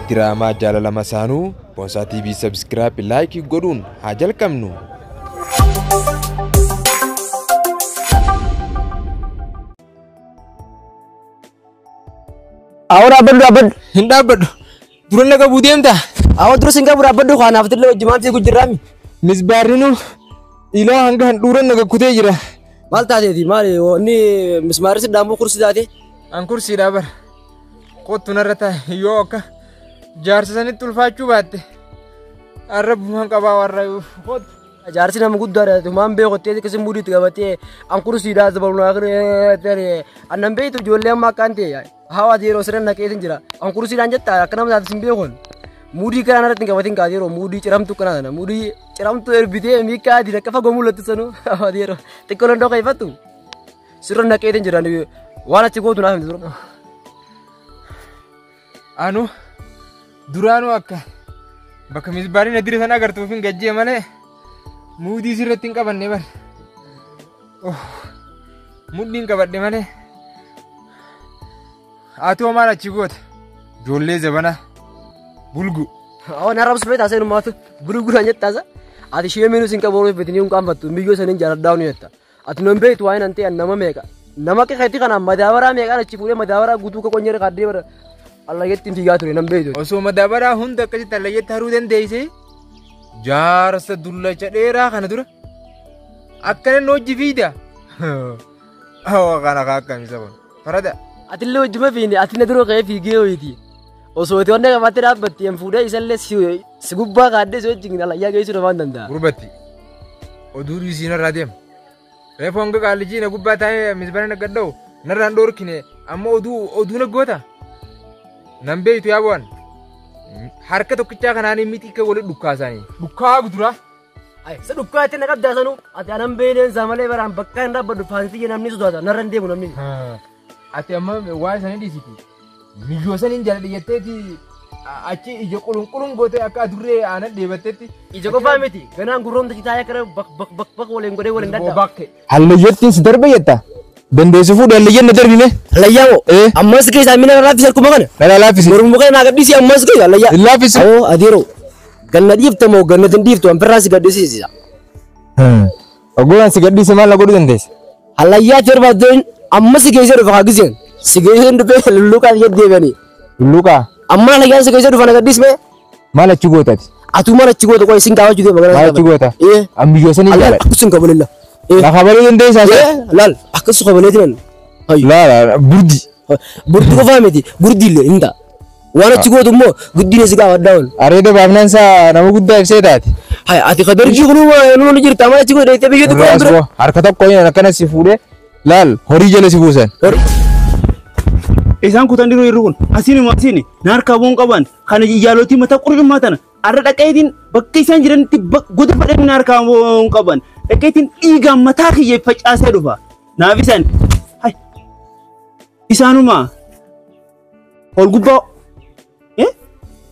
Diraamaa jaalala masaanuu Boonsaa TV Subscribe Like godhuun haa jalqabnu. Awwaara abballu abballu. Hin dhaabbadhu. Dura na qabuu deemta? Awwa dura sin qabu dhaabbadhu kaa naaf tillee wajji maal fiigu jirraami. Misbaarrinu ilaa hanga handhuura na gakkutee jira. Maal taateeti maali inni mismaarri si dhaamuu kursi taate. An kursiidhaa bara. Kottu narra taa'e yoo akka jaarsa sanitti ulfaachuu baatte arrabbumaan qabaa warra kottu. Jaarsi nama guddaadha tumaan beekottee akka sin muudiitti qabattee an kursiidhaa dabaluu naa kenne annan beektu ijoollee amma akkaan ta'e. Hawa yeroo siran naqeetin jira. An kursiidhaan jetta akka nama taate sin beekun. Muudii kanaan irratti hin qabatin kaate yeroo muudii ciramtu kanaa sana muudii ciramtu erbitee miikaa ati akka fagoo mul'attu sanu hawa yeroo xiqqoo dandoo keeffattu. Sirra naqeetin jira waan achi gootu naaf hin jiru. Anu duraanuu akka bakka misbaariin adire sana agartuuf hin gajjee malee muudii sirratti hin qabanne bar. Mudhiin qabadhe malee. Ati hoo maal achi goote? Ijoollee zabana bulgu. Awwan har'a obsu beektaa seenuu maatu gurguraan jettaasa. Ati ishee miinuu siin qabu ooluu fedhanii hin qaanfattu miyyoo saniin jaaladhaa ni jetta. Ati nan beektu waa'ee nan ta'e nama meeqa. Nama qixeetti kana madaabaraa meeqaan achi fuudhee madaabaraa guutuu ka qonyee kaadee bara. Allageetti hin fiigaa ture nan beektu. Osoo madaabaraa hunda akkasitti allayyeetti haruu dandeessee jaarsa dullacha dheeraa kana dura Akkana nu hojji fiida. Hawa kana kaa akkamisa kun. Farada. Atillee hojjuma fiine ati na dura ka'ee fiigee ho'iiti. Osoo itti wanna qabattee dhaabbatte hin fuudhee isallee si si gubbaa kaadhee si wajjin alayyaa geessuu dhabaan danda'a. Gurbatti. Oduu dhiisii narraa deema. Reefu hanga qaallijii na gubbaa taa'ee misbana na gadda'u narraan dhoorkine amma oduu oduu na goota. Nan beektu yaa bu'an. Harka tokkichaa kanaan miti akka walitti dhukkaasaanii. Dhukkaa guduraa. Ay, sa dhukkaa itti na qabdaa sanuu. Ati anan beeleen isaa malee baraan bakka hin dhaabbadhu faansiyya namni sodaata narra hin deemu namni. Ati amma waa isanii dhiisiti. Miyyoo saniin jaaladha jetteeti achi ija qulunqulun gootee akka adurree aanan dheebattetti. Ija qofaa miti ganaan gurroomta citaa yakara bak bak bak bak waliin godhee waliin daddaa. Bakke. Hallayyattiin si darbe jetta. Dandeessi fuudhi hallayyan na darbime. Hallayyaa moo? Eh. Ammas keessaa mina na laaffisi harkuma kana. Dhala laaffisi. Mormu kana naa gadhiisi ammas keessa hallayyaa. Hin laaffisi. Awoo adeeroo. Ganna dhiifta moo ganna hin dhiiftu an birraa si gadhiisisiisa. Oggolaan si gadhiise maal na godhuu dandeessa? Hallayyaa si barbaaddoon ammas si keessa dhufa haagiseen. Si keessa hin dhufee lulluuqaan jedhu deebi'anii. Lulluuqaa. Amma hallayyaa si keessa dhufa na gadhiismee. Maal achi goota ati? Atuu maal achi goota qoy isin gaafachuu deema gara Maal achi goota? Ee. Ambiyyoo sanii Allah jaalata. akkusin kabalilla. Ee. Lafa baluu dandeessaa isa? Ee laal akkasu kabalee jiran. Hayyu. Laala burdi. Burdi qofaa miti burdi illee hin ta'a. Waan achi gootu immoo guddina si gaafadhaa ol. Areeda baafnaan isaa nama guddaa ibsee taate. Hay ati kadarjii kunuma numa ni jirta maal achi godhe itti biyya tokko Irraas bira. boo harka tokko inni akkana si fuudhee laal horii jala si buusan. Isaan kutan diruu irri kun asiin immoo asiin na harkaa bu'uun qaban Kana jaalootii mataa qurcummaa tana arra dhaqeetiin bakka isaan jiranitti goda fadhanii na harkaa hin qaban. Dhaqeetiin dhiigaan mataa kiyya facaasee dhufa. Naaf isaan isaanuma ol gubbaa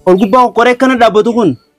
ol gubbaa qoree akkana dhaabbatu kun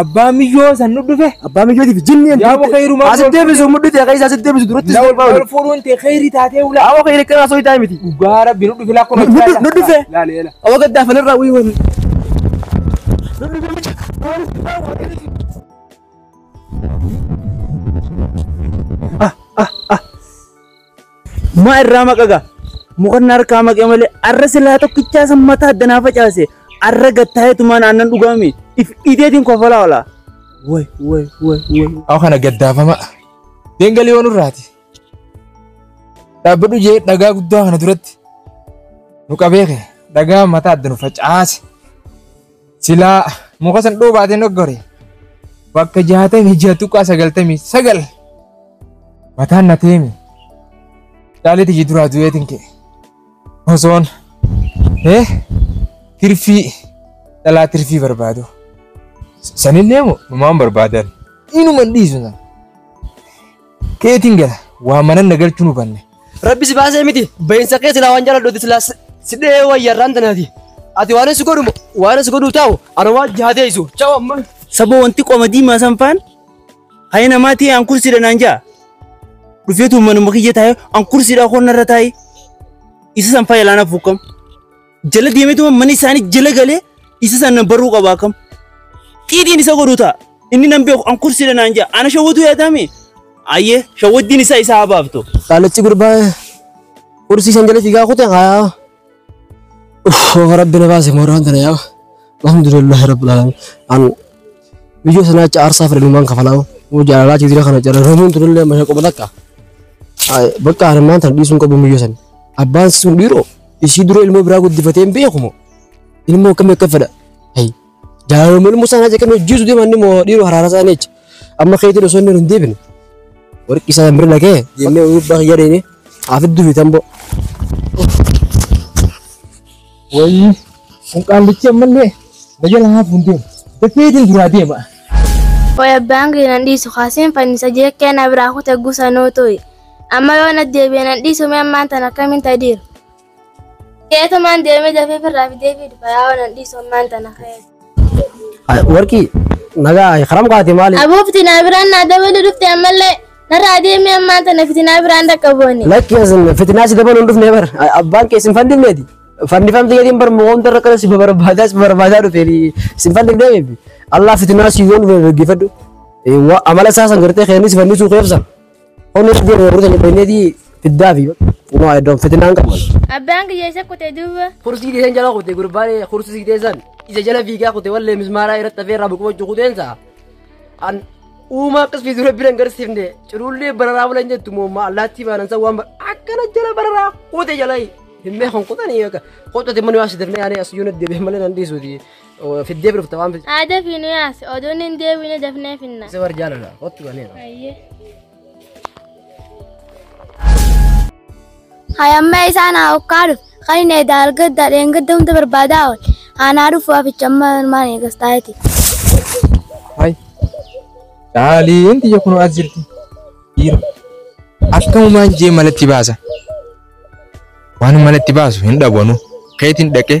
Abbaa miyyoo san nu dhufe. Abbaa miyyootiif jinni hin Yaa turte. bakka hirumaa Asitti goolfamee. deebisu mudhite akka isa asitti deebisu duratti si kolfaa Wal fuudhuun tee kheyrii taatee ulaa. Awa kee kana soo itaa miti. Dhugaa rabbi nu dhufe lakkuma. Nu- nu- nu dhufe. Laale eela. Awa gaddaa fanirraa wii wani. Maa irraa maqaga mukanna harkaa maqee malee arra silaa tokkichaa san mataa addanaa facaase arra gattaayetumaan aannan dhugaame if ideetiin kofalaa ola. Way way way way. Aw kana gaddaafama. Deengalii waan irraati. Dhaabbadhu jee dhagaa guddaa kana duratti nu qabee kee dhagaa mataa adda nu facaase. Silaa muka san dhuu baatee noggore bakka jaatamii jaha tuqaa sagaltamii sagal mataan na teemi caalee tijii duraa du'eetiin kee osoon eh tirfii dhalaa tirfii barbaadu sanillee moo numaan barbaadan inuman dhiisu sana Keetiin gala waa manan na galchuun hubanne. Rabbi si baasee miti bahinsa kee silaa waan jaaladhuuti silaa si- si dhee wayyarraan tanaati. Ati waan si godhu waan si godhu taa'u ana waan jaadeessu. Chaawu amma. Sabo wanti qoma diimaa san faan hayi namaa ta'e an kursiidha naan ja'a. Dhufeetu manuma kiyya taa'e an kursiidha koon narra taa'e. Isa san fayyalaanaaf hukkam. jala deemeetuma mana isaanii jala galee isa sana baruu qaba akkam. Xiidiin isa godhu ta'a. Inni nan beeku an kursiidha naan ja'a. Ana shawwatu yaadame. Ayyee shawwaddiin isaa isaa haa baaftu. Qaalachi gurbaa kursii shan jala fiigaa kute haa. Uff rabbi na baase mooraan tana yaa. Alhamdulillah rabbil alamin. An Biyyo sanaacha aarsaa fedhanumaan kafalaa moo jaalalaa jijira kana carraramuun turellee masha qoba takka. Bakka harmaan tan dhiisuun qabu biyyo san. Abbaan sun dhiiroo ishii dura ilmoo biraa guddifatee hin beeku moo ilmoo akkamii akka fedha. Jaalaluma ilmoo sanaa jeqan hojjiisu deeman ni moo dhiiroo haraara isaa neecha. Amma keetiin osoo inni hin deebine warqi isaa hin birla kee jennee uyyuu bakka yaadeenii haa fidduu fi tamboo. Wayii kun qaallichi ammallee na jala haafuun deema. Dafeetiin duraa deema. Way abbaan kee nan dhiisu kaaseen fannisa jeekkee na biraa kute gusa noo to'i. Amma yoo na deebi'e nan dhiisu mee ammaan tan akkamiin tadiiru. Keetumaan deemee dafee firraa fidee fi dhufa yaa'oo nan dhiisu ammaan tana ka'ee. Warqii nagaa karam kaate maali? Aboo fitinaa biraan naa dabalu dhufte ammallee narraa deemee ammaan tana fitinaa biraan dhaqqabooni. Lakki asin fitinaa si dabaluun dhufne bar abbaan kee sin fandifneeti. Fandifamte jedhin bar mo'oomta irra kana si barbaadaa si barbaadaa dhufe sin fandifnee beebi. Allah fitinaa si yoon dhufne dhaggeeffadhu. Amala isaa san gartee keenni si fandisuu keefsa. Onni irra deemu warri sanii bahineetii fiddaa fi kunoo iddoon fitinaan qabu. Abbaan kiyya isa kutee duuba. Kursii keessan jala kute gurbaan kursii keessan isa jala fiigaa kute wallee mismaaraa irratti hafee irraa buqubachuu kuteensa. An uumaa akkas fiisu rabbi nan garsiifne ciruullee bararaa bulan jettu moomma allaattii baanan san waan akkana jala bararaa kute jala himmee kan kutanii akka qottati mani waa sidarnee yaanee as yuuna deebi'e malee nan dhiisuuti. Fiddee birufta waan bilcha. Aada fi nu yaase oduun hin deebiine dafnee finna. Isa warri jaalala. Kottu ganeera. Ayyee. Hayammee isaan haa hokkaadhu. Kan inni edaa argadda dheengadda hunda barbaadaa ool. Aanaa dhufu haficha amma ilmaan eegas taa'eeti. Hai. Daaliin tiyya kunoo as jirti. Dhiira. Akkamumaan jee malatti baasa. Waan malatti baasu hin dhabanu. Keetiin dhaqee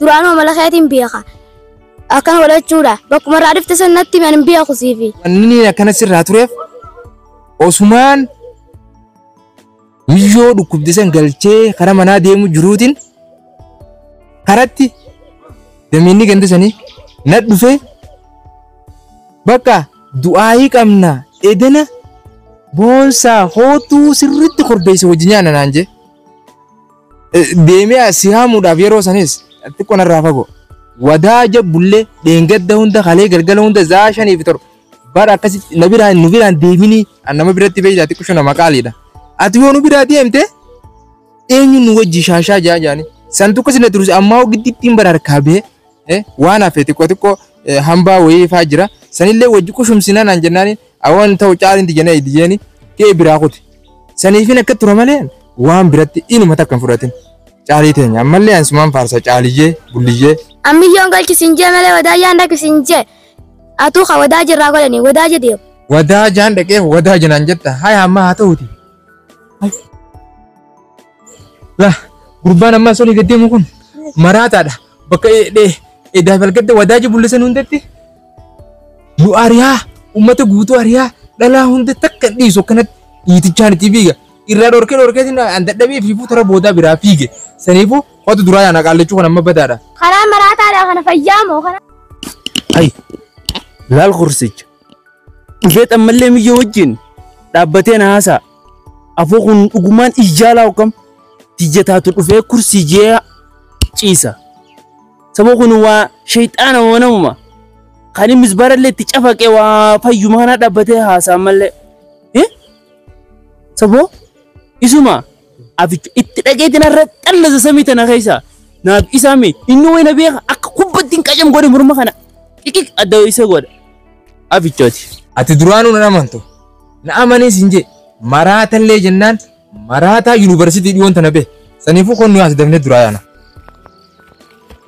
duraanuu amala keetiin beeka akkana godhachuudha bakkuma irraa dhifte san natti himi ani hin beeku siifi Wanni akkana sirraa tureef osumaan miyyoo dhukkubde san galchee karaa manaa deemu jiruutiin karatti dameenni ganda sanii na dhufee bakka du'aayii qabna edana boonsaa hootuu sirriitti korbeessa wajji nyaana naan jee. Deemee si haamuudhaaf yeroo sanis xiqqoo narraa fagoo. Wadaa jabbullee dheengadda hunda kalee galgala hunda zaa shanii fi torba. Bara akkasitti na biraan nu biraan deeminii an nama biratti beeydaa xiqqoo shana maqaaliidha. Ati yoo nu biraa deemte eenyuun nu wajji shaashaa jaa jaani. San tokko sila turus ammaa hoo giddittiin bara harkaa bee Eh, waan hafe xiqqoo xiqqoo eh, hambaa wayii faa jira. Sanillee wajji qushumsina naan jennaani awan ta'u caalinti jenna itti jeeni kee biraa kuti. Saniifin akka tura malee waan biratti inuma takka hin fudhatin. Caalii teenya ammallee ansumaan faarsa caaliyyee bulliyyee. Ammiyyoon galchi siin jee malee wadaa yaan dhaqi siin jee. Atuu ka wadaa jirraa godhani wadaa je deemu. Wadaa jaan dhaqee wadaa jenaan jetta haya amma haa ta'uti. La gurbaan amma sun gadi deemu kun maraataadha. bakka edaa balgadda wadaaji bullisan hundatti nu ariyaa ummata guutuu ariyaa dhalaa hunda takka dhiisu akkanatti dhiitichaan itti fiiga irraa dhorkee dhorkeetiin an dadhabee fiifuu tara boodaa biraa fiige saniifuu wanta duraa yaana qaallachuu kan amma badaadha. Karaa maraataadha kana fayyaa moo kana. Ay, laal kursicha. Dhufeet ammallee miyyoo wajjin dhaabbatee na haasa'a. Afoo kun dhugumaan ijjaalaa hokkam tiyya taatu dhufee kursii jee ciisa. Saboo kun waa shayxaana wanamuma. Kan innis barallee itti cafaqee waa fayyumaa na dhaabbatee haasa'a ammallee. Eh? Saboo isuma Abicha itti dhageetiin har'a xallasa samii tana keessa naaf isaa mee inni wayna beeka akka kubbattiin qacam godhe morma kana xiqiq adda isa godha abichooti. Ati duraanuu nan amantu. Na amaniis hin jee. Maraatallee jennaan maraataa yuunivarsiitii dhiyoon tana bee. Saniifuu kun nuyi as dabnee duraa yaana.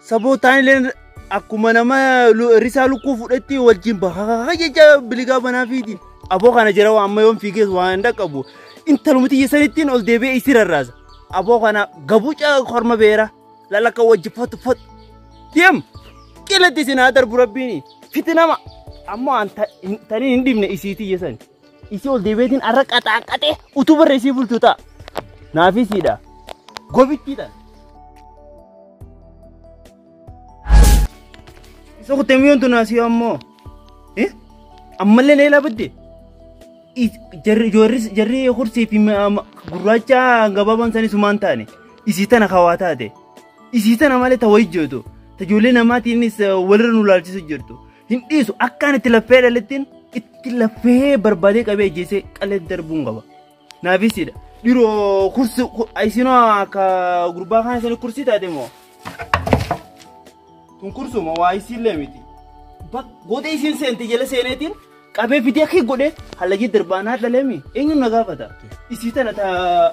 Sabootaan illeen akkuma nama lu- risaa lukkuu fudhetti wajjin bahaa jecha biligaa banaa fiiti. Aboo kana jira waan amma yoon fiigees waan hin dhaqqabu. Intalumti yesanittiin ol deebi'ee isii rarraasa. Aboo kana gabuuca korma beera lalakka wajji fotu fotu. Deem qilatti isin haa darbu rabbiini fiti nama. Ammoo an ta- hin- tanii hin dhibne isiitii yesan. Isii ol deebi'eetiin har'a qaxaaqqaxee utuu barra isii bultu ta'a. Naafisiidha. Gobittiidha. Isa kuttee miyoon tun asii ammoo. Eh? Ammallee na ilaabatti. Jarri ijoorris jarri kursii fi gurraacha gabaabaan isaanii sumaan taane. Isii tana hawaa taate. Isii tana malee ta wayyi jirtu. Ta ijoollee namaatiinis walirra nu laalchisu jirtu. Hin dhiisu akkaan itti laffee dhalittiin itti laffee barbaadee qabee ajjeesee qalee darbuun qaba. Naafisiidha. Dhiroo kursi isinoo akka gurbaa kaan isin kursii taate moo? Kun kursuma waa isiillee miti. Gootee isin seente jala seeneetiin qabee fidee akka godhee halagii darbaanaa dhaleemi eenyuun na gaafata. Isii tana taa